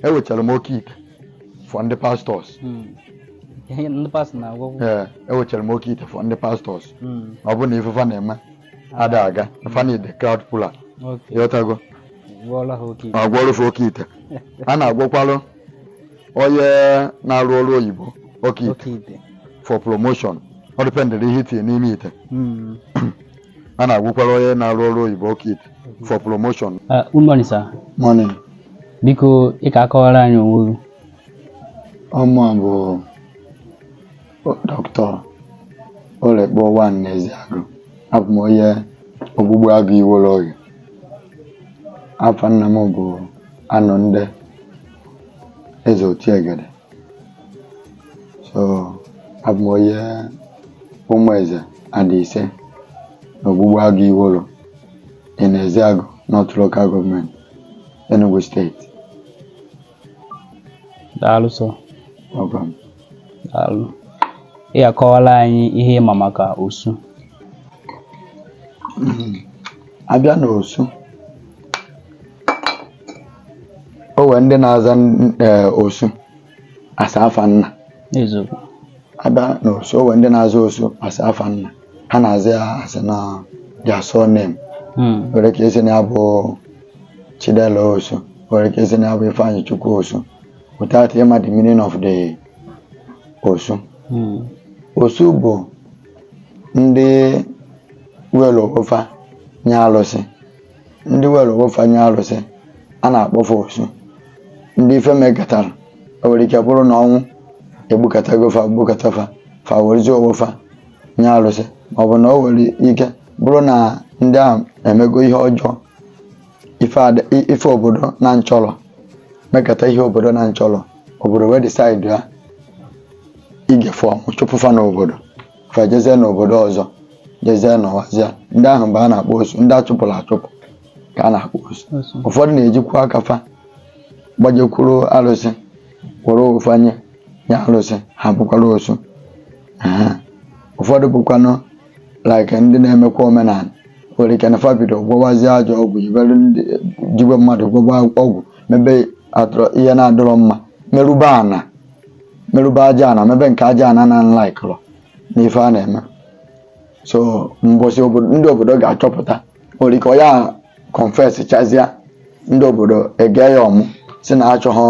ewechara m oke ite for ndị pastọs hmm. ndị pastọ na-agwọ ee ewechara m oke ite for ndị pastọs hmm. ọ bụrụ na ife fa na-eme ada aga fa na ide crowd puller ị ghọtago a gwọrụ fa oke ite a na-agwọkwalụ onye na-arụ ọrụ oyibo oke ite for promotion ọ dịpendịrị ihe i tinye n'ime ite hmm. a na-agwọkwara onye na-arụ ọrụ oyibo oke ite for promotion Uh, good morning, sir. morning Biko, ị ka akọwara anyị onwe gị. ọ mụa bụ Doctor Olekpo One n'Ezeagụ abụ m onye Ogbugbuagụ Iwollo Oghe afa nna m bụ Anọnde Eze Otiegede so abụ m onye Ụmụeze adị ise na Ogbugbuagụ Iwollo in Ezeagu North Local Government Enugu State daalụ sir welcome daalụ ị ga-akọwara anyị ihe ị ma maka osu a bịa n'osu o nwere ndị na-aza n- eh, osu as afa nna eziokwu a bịa n'osu o nwere ndị na-aza osu as afa nna ha na-aza ya as in their surname Mm. nwere ike ị sị na ya bụ Chidela Osu nwere ike ị sị na ya bụ Ifeanyịchukwu Osu without ịma the meaning of the Osu Mm. Osu bụ ndị welu onwe fa nye alụsị ndị welu onwe fa nye alụsị a na-akpọ fa osu ndị ife mekatara o nwere ike bụrụ na ọnwụ egbukatago fa gbukata fa fa werezi onwe fa nye alụsị ma ọ bụ na o nwere ike bụrụ na ndị a emego ihe ọjọọ ife ada- i- ife obodo na nchọrọ mekata ihe obodo na nchọrọ obodo wee decide ya ige fa ọmụ chụpụ fa n'obodo fa jezie n'obodo ọzọ jezie nọwazia ndị ahụ be a na-akpọ osu ndị a chụpụrụ achụpụ ka a na-akpọ osu ụfọdụ na-ejikwa aka fa gbajekwuru arụsị were onwe fa nye nye arụsị ha bụkwara osu Aha. ụfọdụ bụkwanụ like ndị na-emekwa omenala nwere ike na fa bido gwọwazie ajọ ọgwụ jibere ndị jiwe mmadụ gwọwa ọgwụ mebe atụrụ ihe na-adịrọ mma merụbe ana merụbe aja ana mebe nke aja ana na nlaikụrụ na ife a na-eme so mbọsị obodo ndị obodo ga-achọpụta nwere ike ọ ya confess chazia ndị obodo ege ya ọmụ sị na achọghọ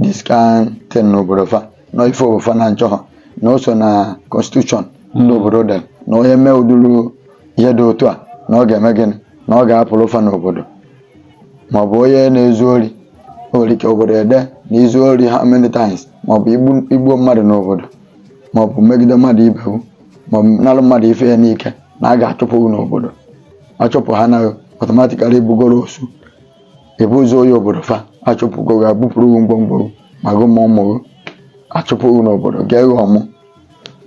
this kind thing n'obodo fa na ife obodo fa na-achọghọ na o so na constitution ndị obodo dere na onye mee ụdịrị ihe dị otu a na ọ ga-eme gịnị na ọ ga-apụrụ fa n'obodo ma ọ bụ onye na-ezu ori o nwere ike obodo ede na i zuo ori how many times ma ọ bụ i gbu- i gbuo mmadụ n'obodo ma ọ bụ megide mmadụ ibe wu ma ọ bụ nalụ mmadụ ife ya n'ike na a ga-achụpụ gị n'obodo a chụpụ ha na automatically ị bụgoro osu ị bụzi onye obodo fa achụpụgo gị ebupụrụ gị ngwongwo gị ma gị ma ụmụ gị achụpụ gị n'obodo ghaa gị ọmụ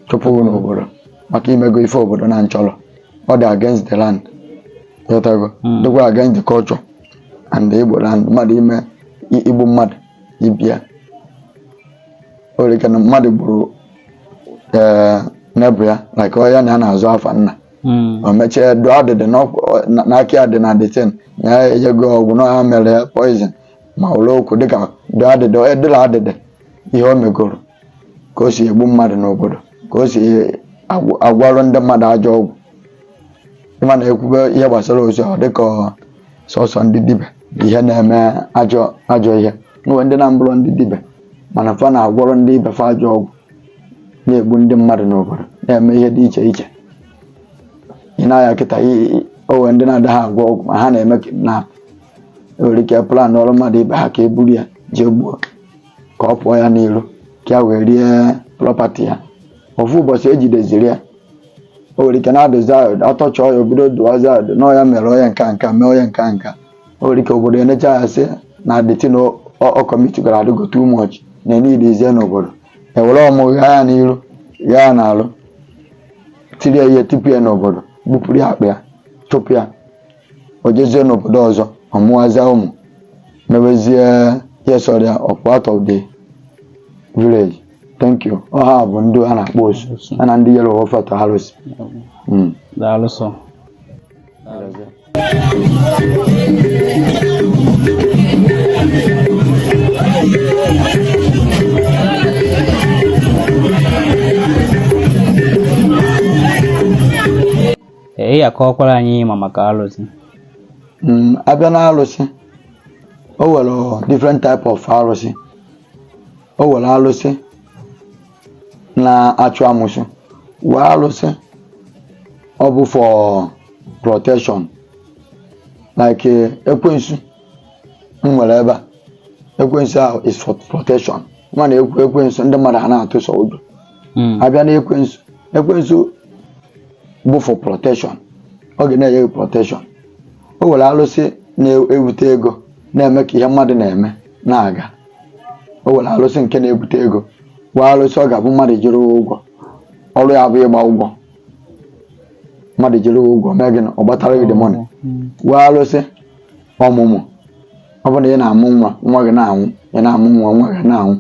chụpụ gị n'obodo maka i mego ife obodo na-achọrọ ọ dị against the land ghọtago dịkwa against the culture and the igbo land mmadụ ime i- igbu mmadụ ibe ya o nwere ike na mmadụ gburu ee neighbour ya like onye ya na ya na-azụ afa nna o mechie dụọ adịdị na aka ya dị na the thing na ya enyego ọgwụ na ya mere ya poison ma ụlọ okwu dịka dụọ adịdị edịla adịdị ihe o megoro ka o si egbu mmadụ n'obodo ka o si agwọ- agwọrọ ndị mmadụ ajọ ọgwụ ị ma na e kwube ihe gbasara osu ọ dịka ọ sọsọ ndị dibịa bụ ihe na-eme ajọ ajọ ihe nwere ndị na-abụrọ ndị dibịa mana fa na-agwọrọ ndị ibe fa ajọ ọgwụ na-egbu ndị mmadụ n'obodo na-eme ihe dị iche iche i nee anya kịta o nwe ndị na-adaghị agwọ ọgwụ ma ha na-eme kidnap nwere ike planọrụ mmadụ ibe ha ka e buru ya jee gbuo ka ọ pụọ ya n'iru ka ya wee rie property ya ofu ụbọchị e jideziri ya o nwere ike na-adụzi ọdụ a torture ya o bido dụwazi ọdụ na ọ ya mere onye nka nka mee onye nka nka o nwere ike obodo enecha ya sị na the thing ọ commitgara adịgo too much na e needizie n'obodo e were ọmụ ghaa ya n'iru ghaa ya n'azụ tiri ya ihe tipu ya n'obodo bupụrụ ya akpa ya chụpụ ya o jezie n'obodo ọzọ ọ mụwazie ụmụ mewezie ihe sọrọ ya ọ pụọ out of the village thank you ọ ha bụ ndị a na-akpọ osu ha na ndị yere ọfata arụsị Mm. daalụ sọ ị ya-akọwakwara anyị ị ma maka alụsị mm, a bịa na alụsị o nwere different type of alụsị o nwere alụsị na-achụ amụsụ nwee alụsị ọ bụ for protection like eh, ekwensu m nwere ebe a ekwensu ahụ is for protection mana ekwe ekwensu ndị mmadụ ha na-atụ sọ ụjọ Mm. a bịa na ekwensu ekwensu bụ for protection ọ ga na-enye gị protection o nwere alụsị na-ewute ego na-eme ka ihe mmadụ na-eme na-aga o nwere alụsị nke na-ebute ego nwee alụsị ọ ga-abụ mmadụ jiri ụgwọ ọrụ ya bụ ịgba ụgwọ mmadụ jiri ụgwọ mee gịnị ọ gbatara gị the money nwee alụsị ọmụmụ ọ bụrụ na ị na-amụ nwa nwa gị na-anwụ ị na-amụ nwa nwa gị na-anwụ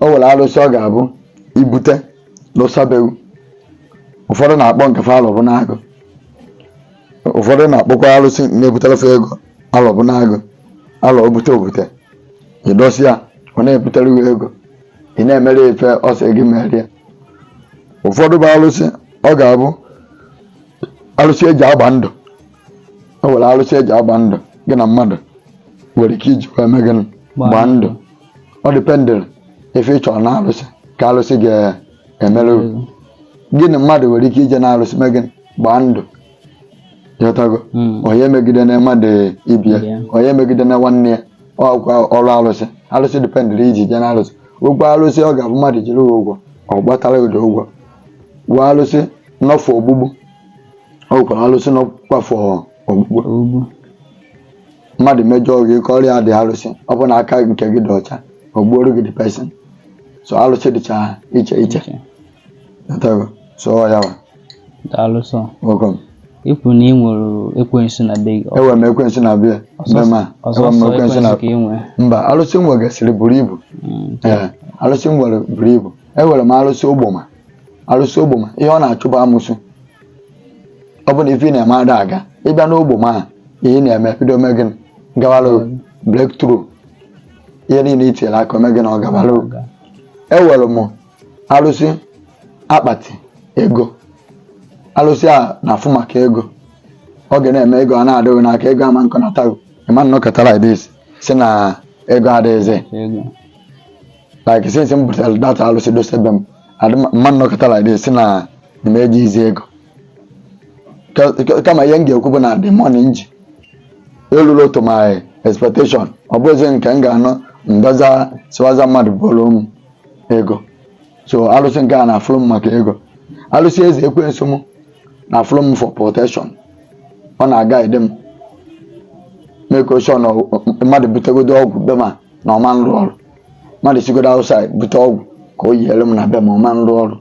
o nwere alụsị ọ ga-abụ ị bute lụsa be gị ụfọdụ na-akpọ nke fa alọ bụ n'agụ ụfọdụ na-akpọkwa alụsị na-ebutere fa ego alọ bụ n'agụ alọ obute obute ị dosie ya ọ na-ebutere gị ego ị na-emere ife ọ sị gị mere ya ụfọdụ bụ alụsị ọ ga-abụ alụsị eji agba ndụ o nwere alụsị eji agba ndụ gị na mmadụ nwere ike iji wee mee gịnị gbaa ndụ ọ dependịrị ife ị chọrọ na alụsị ka alụsị ga-emere gị. gị na mmadụ nwere ike ije na alụsị mee gịnị gbaa ndụ ịghọtago Mm. onye megidena mmadụ ibe ya Ya. onye megidena nwanne ya ọkwa ọrụ arụsị arụsị dependịrị iji bịa na arụsị o nwere arụsị ọ ga-abụ mmadụ jiri gị ụgwọ ọ gbatara gị ụgwọ ụgwọ arụsị nọ for ogbugbu o nwekwara arụsị nọkwa for ogbugbu Ogbu. mmadụ mejọọ gị kọọrọ the arụsị ọ bụ na aka nke gị dị ọcha o gbuoro gị the person so arụsị dịcha iche iche Iche. Ịghọtago, so ọ ya wa. Daalụ sọ. Welcome. I kwu na ị nwere ekwensu na be gị. Enwere m ekwensu na be be m a. Ọ sọsọ ekwensu ka ị nwere mba alụsị m nwegasịrị buru ibu. Mm, Ee alụsị m nwere buru ibu. Enwere m alụsị ogboma. Alụsị ogboma ihe ọ na-achụ bụ amụsụ. Ọ bụ na ife ị na-eme ada aga ị bịa n'ogboma a ihe ị na-eme bido mee gịnị gawalụ mm. breakthrough ihe niile i tinyere aka ọ mee gịnị ọ gawalụ enwere m arụsị akpati ego arụsị a na-afụ maka ego ọ ga na-eme ego a na-adị gị n'aka ego ama nkọnata gị ị ma nnọkata like this sị na ego adịghịzi ego like since m butere that alụsị dọsa be m adị m- m ma nnọkata like this sị na na m ejighịzi ego Ka- ka- kama ihe m ga-ekwu bụ na the money m ji elulu to my expectation ọ bụghịzi nke m ga-anọ m bịaza sịwaza mmadụ bụrụ m ego so alụsị nke a na-afụrụ m maka ego alụsị eze ekwensu m na-afụrụ m for protection ọ na-aguide m make sure na ọ- mmadụ butegodo ọgwụ be m a na ọ ma nrụ ọrụ mmadụ sigodo outside bute ọgwụ ka o yiere m na be m a ọ ma nrụ ọrụ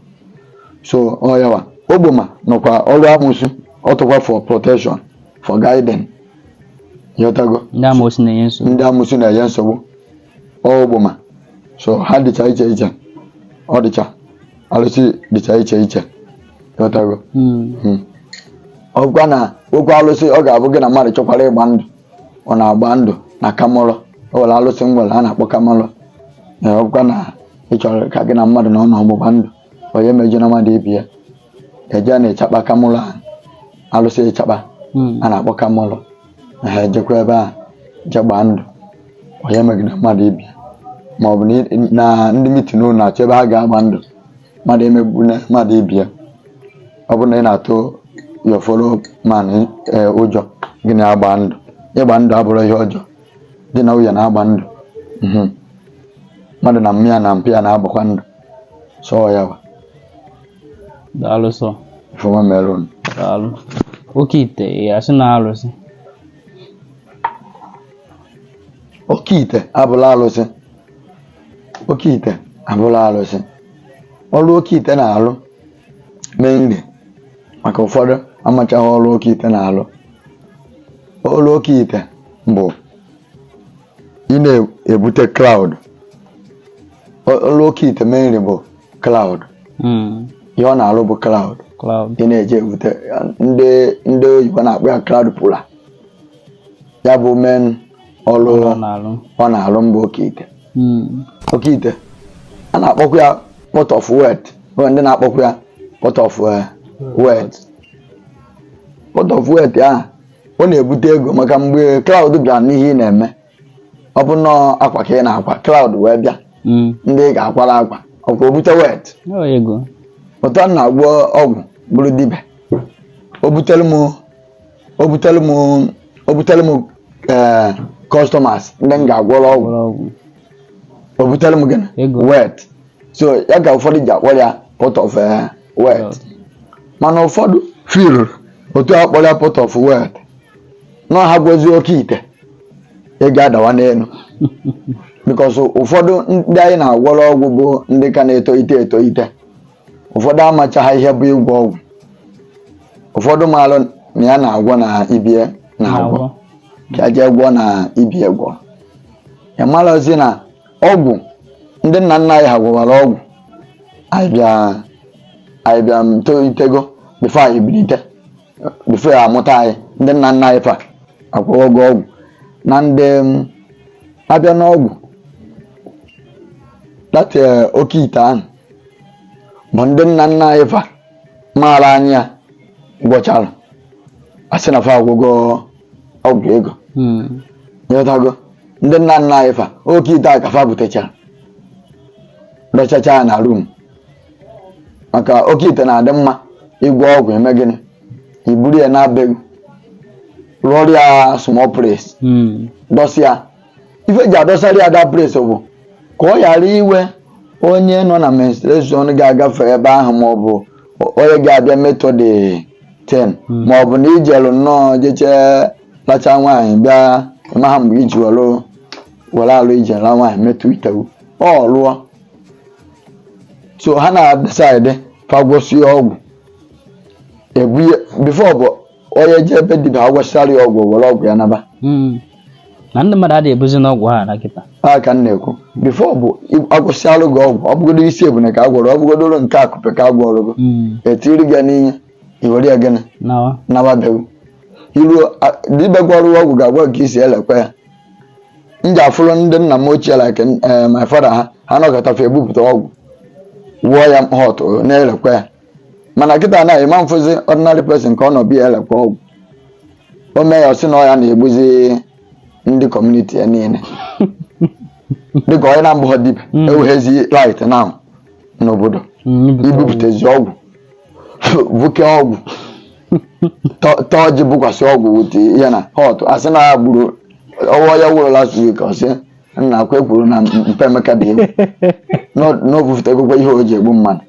so ọ ya wa ogboma nọkwa ọrụ amụsụ ọ dịkwa for protection for guiding ịghọtago Ndị amoosu na-enye nsogbu. ndị amụsụ na-enye nsogbu ọgbụma so ha dịcha iche iche ọ dịcha alụsị dịcha iche iche ị ghọtago ọ bụkwa na okwu alụsị ọ ga-abụ gị na mmadụ chọkwara ịgba ndụ ọ na-agba ndụ na kamalụ o nwere alụsị m nwere a na-akpọ kamalụ na ọ bụkwa na ị chọrọ ka gị na mmadụ nọọ n'ọgbụgba ndụ onye emejọna mmadụ ibe ya e jee na ịchakpa kamalụ ahụ alụsị ịchakpa Mm. a na-akpọ kamalụ na ha ejekwa ebe a je gbaa ndụ onye megide mmadụ ibe ya ma ọ bụ na ị- na ndị mitin unu na-achọ ebe ha ga-agba ndụ mmadụ emegbuna mmadụ ibe ya ọ bụrụ na ị na-atụ your fellow man eh, ụjọ gị na-agba ndụ ịgba ndụ abụrọ ihe ọjọọ di na nwunye na-agba ndụ Mhm. mmadụ na mma ya na mpa ya na-agbakwa ndụ so ya wa daalụ sọ ifeoma melon daalụ oke ite ya sị na alụsị oke ite abụrọ alụsị oke ite abụrọ alụsị ọrụ oke ite na-alụ mainly maka ụfọdụ amachaghị ọrụ oke ite na-alụ ọrụ oke ite bụ ị na-ebute crowd ọrụ oke ite mainly bụ crowd hmm. ihe ọ na-arụ bụ crowd ị na-eji ebute ndị oyibo na-akpọ ya crowd puller ya bụ main ọrụ ọ na-arụ mbụ oke ite hmm. oke ite a na-akpọkwa ya pot of wealth ndị na-akpọkwa ya pot of eh, wealth pot of wealth ahụ ọ na-ebute ego maka mgbe crowd bịara n'ihe ị na-eme ọ bụ na ọ akwa ka ị na-akwa crowd wee bịa Mm. ndị ị ga-akwara akwa ọkwa o bute wealth Ọ ego. otu m na-agwọ ọgwụ bụrụ dibịa o butere m o butere m o butere m ee customers ndị m ga-agwọrọ ọgwụ Gwọrọ ọgwụ. o butere m gịnị Ego. wealth so ya ka ụfọdụ ji akpọ ya pot of eh, wealth mana ụfọdụ feel otu a kpọrọ ya pot of wealth na ha gwọzie oke ite ego adawa n'elu because ụfọdụ ndị anyị na-agwọrọ ọgwụ bụ ndị ka na-etolite etolite ụfọdụ amachaghị ihe bụ ịgwọ ọgwụ ụfọdụ maalụ na ya na-agwọ na ibe ya na-agwọ ka ya jee gwọọ na ibe ya gwọrọ ya amarọzi na ọgwụ ndị nna nna anyị ha gwọwara ọgwụ anyị bịa anyị bịa tolitego before anyị bilite before a mụta anyị ndị nna nna anyị fa agwọwago ọgwụ na ndị m, abịa n'ọgwụ that oke ite ahụ bụ ndị nna nna anyị fa maara anyị ya gwọchara asị na fa agwọgo ọgwụ ego nyetago ndị nna nna anyị fa oke ite a ka fa butechara dochacha ya na rum maka oke ite na-adị mma ịgwọ ọgwụ i mee gịnị i buru ya naa bewu rụọrọ ya small place dọsa ya ife ji adọsara ya that place bụ ka ọ ghara iwe onye nọ na menstruation ga-agafe ebe ahụ ma ọ bụ onye ga-abịa metọ the thing ma ọ bụ na ijelụ nnọọ jeche lacha nwaanyị bịa ịmaha mgbe i ji were were alụ i jee laa nwaanyị metụ itewu ọ lụọ so ha na-decide fa gwọsịa ọgwụ ebunye before bụ onye je ebe dibịa agwọsịara ya ọgwụ were ọgwụ ya naba Mm. na ndị mmadụ adịghị ebuzi n'ọgwụ ha ana kịtaa ka m na-ekwu before bụ agwọsịalụ gị ọgwụ ọ bụgodo isi ebune ka a gwọrọ ọ bụgodoro nke akụpe ka a gwọrọ gị Mm. etiri gị ya n'ihe iwere ya gịnị nawa nawa be gị i ruo a- dibịa gwọrọ gị ọgwụ ga-agwa gị ka i si elekwa ya m ji afụrụ ndị nna m ochie like eh, my father ha ha nọkọta fa ebupụta ọgwụ wụọ ya hot na-elekwa ya mana kịta na ịma afụzi ordinary person ka ọ nọ bịa elekwa ọgwụ o mee ya ọ sị na ọ ya na-egbuzi ndị community ya niile dịka onye na-abụha dibịa Mm. eweghezi right na n'obodo ibupụtezi ọgwụ buke ọgwụ ta- taa ọjị bụkwasị ọgwụ wute ya na hot asị na ya gburu nwa ya nwụrụ last week ọ sị na ọkwa ekwuru na mpa Emeka dị egwu na o bufụtegokwa ihe o ji egbu mmadụ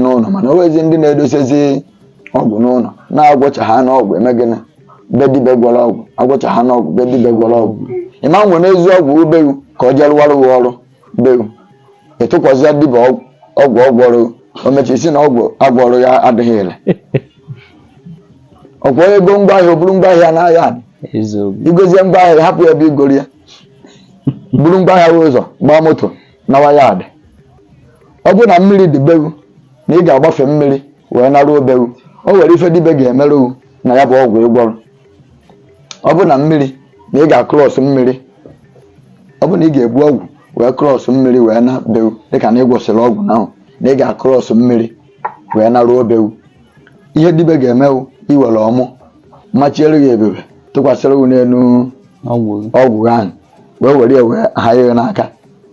n'ụlọ mana owezi ndị na-edosezi ọgwụ n'ụlọ na-agwọcha ha n'ọgwụ eme gịnị be dibịa gwọrọ ọgwụ agwọcha ha n'ọgwụ be dibịa gwọrọ ọgwụ ịma ewenazi ọgwụ bewu ka ọ jee rụwara gị ọrụ bewu ị tụkwasịa dibịa ọgwụ ọgwụ ọ gwọrọ o mecha ị sị na ọgwụ agwọrọ ya adịghị ire ọkwa onye goo ngwa ahịa o buru ngwa ahịa n'ahịa adị eziokwu i gosịa ngwa ahịa hapụ ya ebe i goro ya buru ngwa ahịa wee ụzọ gbaa moto nawa yard ọ bụrụ na mmiri dị bewu na ị ga-agbafe mmiri wee naruo bewu o nwere ife dibịa ga-emerụ na ya bụ ọgwụ ị gwọrọ ọ bụrụ na mmiri na ị ga-across mmiri ọ bụrụ na ị ga-ebu ọgwụ wee cross mmiri wee naa bewu dịka na ị gwọsịrị ọgwụ ahụ na ị ga-across mmiri wee naruo bewu ihe dibịa ga-eme wu iwere ọmụ machiere gị ebube tụkwasịrị gị n'elu ọgwụ ahụ wee were ya wee ha ya n'aka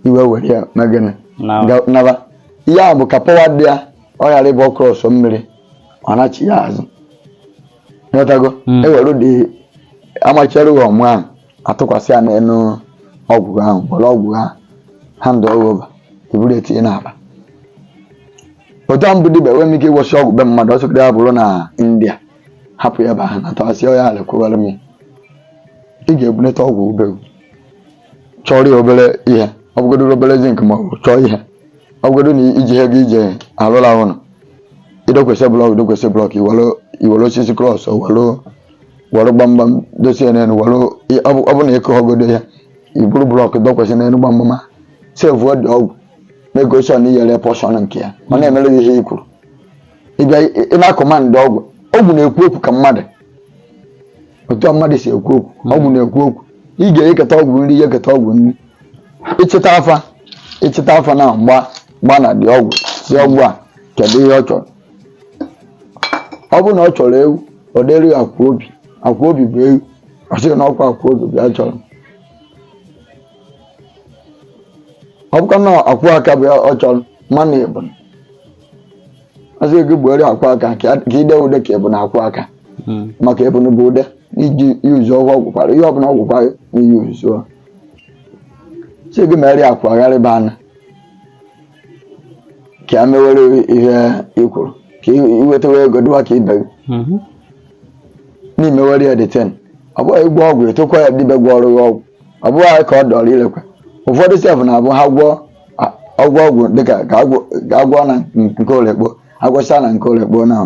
i wee were ya na gịnị naba ihe a bụ ka pọwa dị ya ọ ghara ịbụ ọ krọsọ mmiri ọ nachi ya azụ ị ghọtago hmm. e were dị amachiere gị ọmụ ahụ atụkwasị ya n'elu ọgwụ ahụ were ọgwụ ahụ handụ over i buru etinye n'akpa otu a m bụ dibịa enweghị m ike ịgwọsị ọgwụ be mmadụ ọ sọ ya bụrụ na india hapụ ya ebe ahụ na-atọghasị ya ala kwụwara m ị ga-ebunata ọgwụ gị be gị chọrọ ya obere ihe ọ bụgodo obere zinc ma ọ bụ chọọ ihe ọ bụgodo na iji ihe gị ije alụla ụlọ i dokwasị blọk i dokwasị blọk i were osisi krọs were gbamgbam dosie n'elu were ọ bụ na ị kụhọgodo ya i buru blọk dokwasị n'elu gbamgbam a sevuo dị ọgwụ na-egosi ọ na i nyere pọshọn nke ya ọ na-emere gị ihe i kwuru ị bịa ị na-akọmandị ọgwụ ọgwụ na-ekwu okwu ka mmadụ otu a mmadụ si ekwu okwu ọgwụ na-ekwu okwu ị ga-enyeketa ọgwụ nri nyeketa ọgwụ nri ị chịta afa ị chịta afa na-agba agba na dị ọgwụ sị ọgwụ a kedu ihe ọ chọrọ ọ bụrụ na ọ chọrọ ewu ọ dịrị ya akwụ obi akwụ obi bụ ewu ọ sị gị na ọkwa akwụ obi bụ ya chọrọ ọ bụkwa na akwụ aka bụ ya ọ chọrọ mana ebunu ọ sị gị gbuere akwụ aka ka i dee ude ka ebunu akwụ aka hmm. maka ebunu bụ ude i ji yuzu ọgwụ ọgwụkwara ihe ọbụla ọgwụkwa yuzu sị gị mere akwa gharịba anụ ka a mewere ihe ị kwuru ka i nwetawa ego dịwa ka ibe gị hmm. na i mewere ya deten ọ bụghị ịgwọ ọgwụ etokwa ya dibịa gwọọrọ ọgwụ ọ bụghị ka ọ dọrọ irekwa ụfọdụ sef na-abụ ha gwọọ ọgwụ ọgwụ dịka ka a gwọọ na nke orekpo a gwọcha na nke orekpo na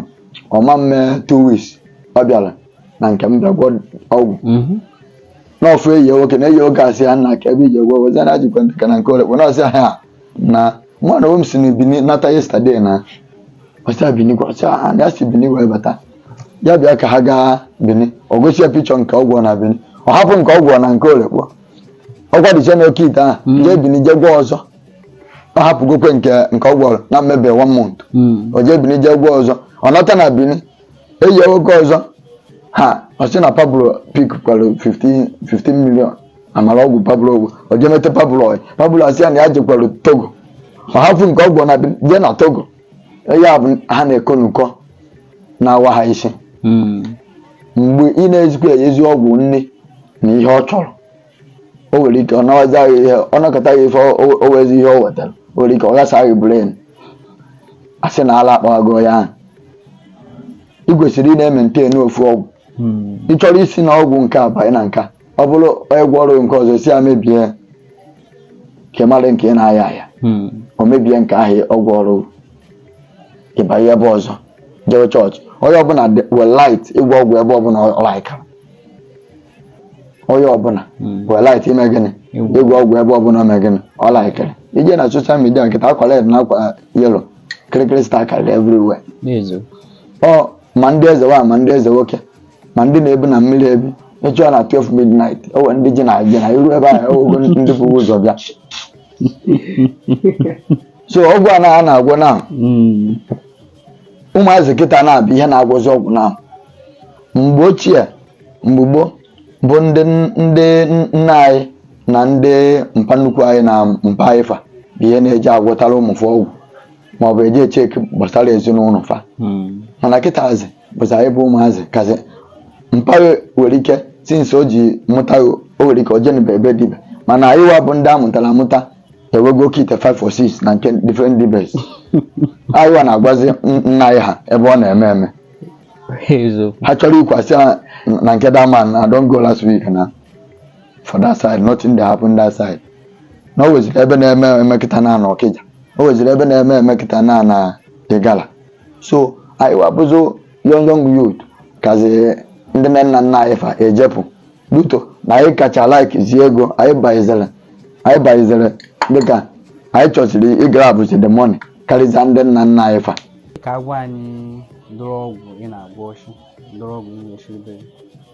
ọ ma eme two weeks ọ bịara na nke m bịa gwọ ọgwụ mhm. na ọ fụ enyi nwoke na enyi nwoke asị ya nna kee ebe i je gwọ wezi na jikwa dịka na nke orekpo na ọ sị ha na mụ na m si na bini nata yesterday na ọ sị bini kwa ọ sị ha na ya si bini wee bata ya bịa ka ha gaa bini ọ gosi ya pichọ nke ọ gwọ na bini ọ hapụ nke ọ gwọ na nke orekpo ọkwa dịcha n'oke ite ahụ Mm. jee bini jee gwọ ọzọ ọ hapụgokwa nke nke ọ gwọrọ na emebe one month Mm. o jee bini jee gwọ ọzọ ọ nata na bini enyi nwoke ọzọ ha ọ sị na pablo pikkwara 15 15 million a mara ọgwụ pablo gwọ o jee miite pablo ọyị pablo asị ya na ya jekwara togo ọ hapụ nke ọ gwọ na bini jee na togo ya bụ ha na-eko n'ụkọ na-awa ha isi Mm. mgbe ị na-ezikwa enyezi ọgwụ nni na ihe ọ chọrọ o nwere ike ọ nawazi gị ihe ọ nakọta gị ife o- o- o wezi ihe o wetara o nwere ike ọ ghasa gị bren a sị na ala akpawago ya ahụ ị kwesịrị ị na-ementen ofu ọgwụ Mm. ị chọrọ isi na ọgwụ nke a banye na nke a ọ bụrụ egwu ọrụ nke ọzọ si ya mebie ka mara nke ị na-aya aya hmm. o mebie nke ahụ ọgwụ ọrụ ịbanye ebe ọzọ jewe chọọchị onye ọbụla were right ịgwọ ọgwụ ebe ọbụla ọ laikara onye ọbụla hmm. were right ime gịnị ịgwọ ọgwụ ebe ọbụla ọ mee gịnị ọ laikara i je na soshal midia kịta akwa red na akwa yelo kirikiri star karịrị everywhere ọ ma ndị eze nwaanyị ma ndị eze nwoke ma ndị na-ebi na mmiri ebi mechụọ na 12 midnight o were ndị ji na ji na iru ebe ahụ ogo ndị bụ ụzọ bịa so ọgwụ a na a na-agwọ na Mm. ụmụazị kịta bụ ihe na-agwọzi ọgwụ na mgbe ochie mgbe gboo bụ ndị ndị nna anyị na ndị mpa nnukwu anyị na mpa anyị fa bụ ihe na-eje agwọtara ụmụ fa ọgwụ ma ọ bụ eje cheki gbasara ezinụlọ fa mana kịtazi bụzi anyị bụ ụmụazị kazi mpa gị nwere ike sinsi o ji mụta o nwere ike o jenebe ebe dibe mana anyị wa bụ ndị a mụtara amụta ewego oke ite 5 or 6 na nke different dibes anyị wa na-agwazi n- nna anyị ha ebe ọ na-eme eme eziokwu ha chọrọ ikwasị ya na nke that man na don go last week na for that side nothing dey happen that side na o weziri ebe na-eme eme kịta na na ọkịja o weziri ebe na-eme eme kịta na na ịgala so anyị wa bụzi young young youth kazi ndị nne nna nna anyị fa ejepụ due to na anyị kacha like zi ego anyị bịaziri anyị bịaziri dịka anyị chọziri ịgrabụzi the money karịzịa ndị nna nna anyị fa ka agwa anyị ụdịrị ọgwụ ị na-agwọ ọchụ ụdịrị ọgwụ ị na-echebe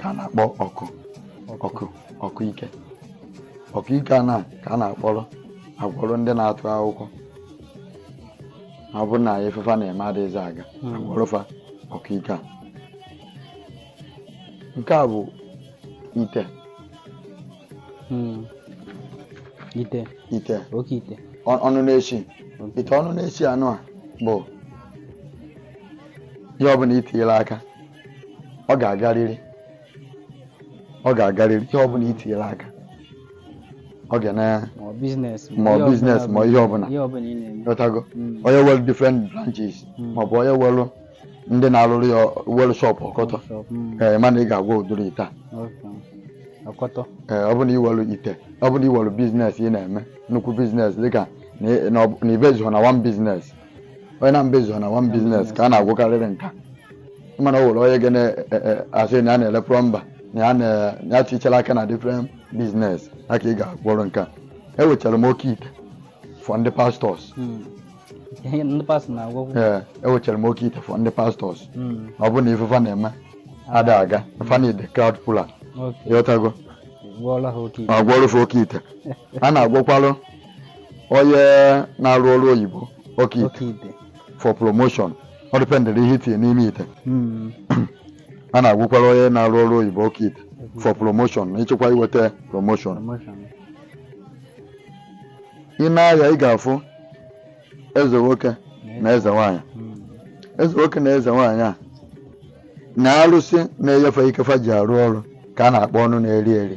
ka a na-akpọ ọkụ ọkụ ọkụ ike ọkụ ike a na ka a na-akpọrọ agwọrọ ndị na-atụ akwụkwọ ọ bụrụ na ife fa na-eme adịghịzi aga hmm. a gwọrọ fa ọkụ ike a nke a bụ ite hmm. ite ite oke ite ọnụ na-esi ite ọnụ na-esi anụ a bụ ihe ọbụla i tinyere aka ọ ga-agarịrị ọ ga-agarịrị ihe ọbụla i tinyere aka ọ ga na ma ọ biznes ma ọ biznes ma ihe ọbụla ihe ọbụla ị na-eme ị ghọtago Mm. onye were different branches Mm. maọbụ onye were ndị na-arụrụ ya were shọpụ ọkọtọ Shop, mm, ee mana ị ga-agwọ ụdịrị ite a okay. ọkọtọ ee ọ bụrụ na i were ite ọ bụrụ na i were biznes ị na-eme nnukwu biznes dịka na ị- na ọ bụ- na i bezughị na one biznes onye na mbezu na one business ka a na-agwọkarịrị nka mana o nwere onye ga na-asị e, e, na ya na-ele plọmba na ya na ya tichara aka na different business ọ ka ị ga-agwọrọ nka enwechara m oke ite for ndị pastors hmm. ee enwechara m oke ite for ndị pastors hmm. ọ bụ na ife fa na-eme ada aga fa need crowd puller ị ghọtago agwọrụ fa oke ite a na-agwọkwalụ onye na-arụ ọrụ oyibo oke ite for promotion ọ dịpendịrị ihe i tinye n'ime ite Mm, a na-agwọkwara onye na-arụ ọrụ oyibo oke ite for promotion na ị chọ ka i nweta promotion promotion ị na-aya ị ga-afụ eze nwoke na eze nwaanyị Mm, eze nwoke na eze nwaanyị a na arụsị na-enye fa ike fa ji arụ ọrụ ka a na-akpọ ọnụ na-eri eri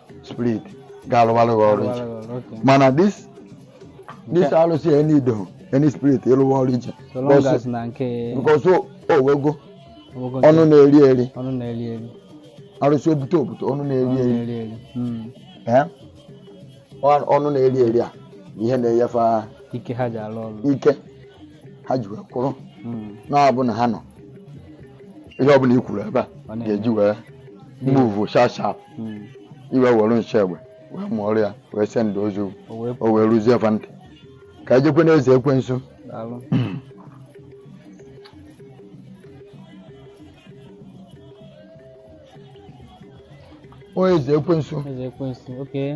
spirit ga-alụwalụ gị ọrụ iche mana this this alụsị ya nido any spirit ịlụwa ọrụ iche because o nwego ọnụ na-eri eri arụsị obute obute ọnụ na-eri eri hmm. ọnụ na-eri eri a ihe na-enye fa ike ha ji alụ ọrụ ike ha ji wee kwụrụ hmm. na ọ bụ na ha nụ ihe ọbụla i kwuru ebe a ga-eji wee move sharp sharp hmm. i wee were nsị egbe wee mụọrọ ya wee send ozi o wee ruzie fa ntị ka e jekwe na eze ekwensu onye eze ekwensu eze ekwensu okay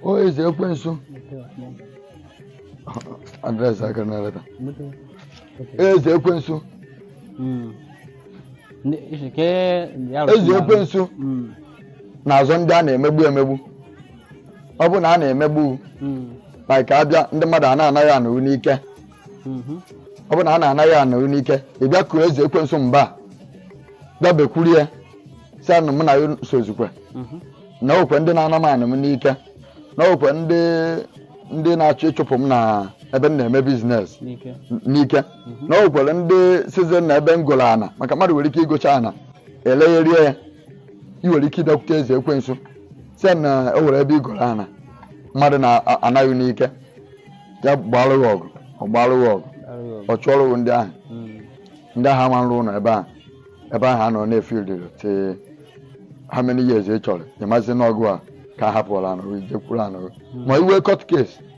o eze ekwensu adreesị aka na-eleta eze ekwensu Mm. Ndị- isi ka e- ndị arụsị eze ekwensu Mm. na-azọ ndị a na-emegbu emegbu ọ bụ na a na-emegbu Mm. like a bịa ndị mmadụ a na-ana gị ana gị n'ike Mhm. ọ bụ na a na-ana gị ana gị n'ike ị bịakwuru eze ekwensu mba a, bịa bekwuru ya sị ya na mụ na ya sozikwe Mhm. na o nwekwe ndị na-ana m ana m n'ike na o nwekwe ndị ndị na-achọ ịchụpụ m na ebe m na-eme business N'ike. n'ike na o nwekwara ndị seize na ebe m goro ana maka mmadụ nwere ike igocha ana elegharịa ya i nwere ike ịbịakwute eze ekwensu sị na o nwere ebe i goro ana mmadụ na-ana gị n'ike ya gbalụ gị ọgụ ọ gbalụ gị ọgụ ọ chụọrọ gị ndị ahụ ndị ahụ ama arụ ụlọ ebe ahụ ebe ahụ anọ na field till how many years ị chọrọ ị mazi n'ọgụ a ka a hapụrụ anụ jekwuru anụ ma i nwee court case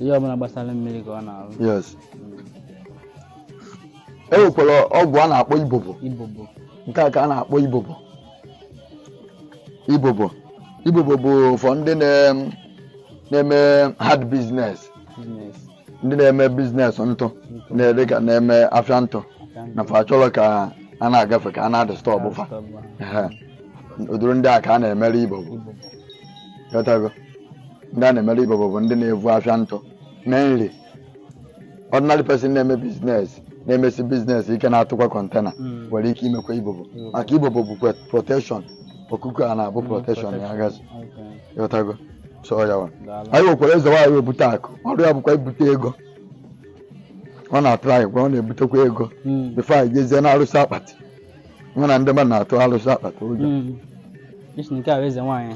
ihe ọbụla gbasara mmiri ka ọ na-arụ yes e nwekwara ọgwụ a na-akpọ ibobo ibobo nke a ka a na-akpọ ibobo ibobo ibobo bụ for ndị na- na-eme hard business ndị na-eme business ntụ na-ede ka na-eme afịa ntụ na fa chọrọ ka a na-agafe ka a na-adisturb fa Ehe. ụdịrị ndị a ka a na-emere ibobo ibobo Ghọtago? ndị a na-emere ibobo bụ ndị na-evu afịa ntụ mana ordinary person na-eme business na-emesi business ike na-atụkwa container hmm. nwere ike imekwa ibobo hmm. maka ibobo bụkwa protection okuku a na-abụ hmm, protection ya gazi ị ghọtago so ya wa anyị nwekwara eze nwaanyị o bute akụ ọrụ ya bụkwa ibute ego ọ na-atụ anyị gwa ọ na-ebutekwa ego before anyị jezie na arụsị akpati nwa na ndị mmadụ na-atụ alụsị akpati ụjọ Mm. Isi nke a bụ eze nwaanyị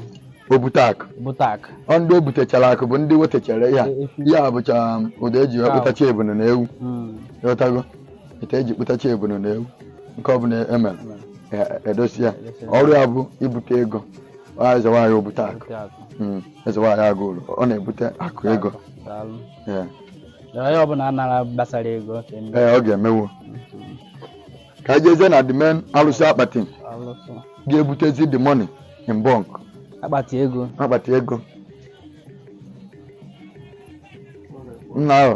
o bute akụ bute akụ ọ ndị o butechara akụ bụ ndị wetechara ya ya bụcha ụdọ e ji wee kpụtacha ebunu na ewu Mm. ị ghọtago ihe e ji kpụtacha ebunu na ewu nke ọbụla e mere e- edosi ya ọrụ ya bụ ibute ego Ọ eze nwaanyị o bute akụ Bute akụ Mm, eze nwaanyị Agụlụ ọ na-ebute akụ ego daalụ Yeah. Dara ya ọbụla anara gbasara ego ka eme. ee ọ ga-emewo ka anyị jezie na the main alụsị akpati alụsị ga-ebutezi the money in bulk akpati ego akpati ego nna ahụ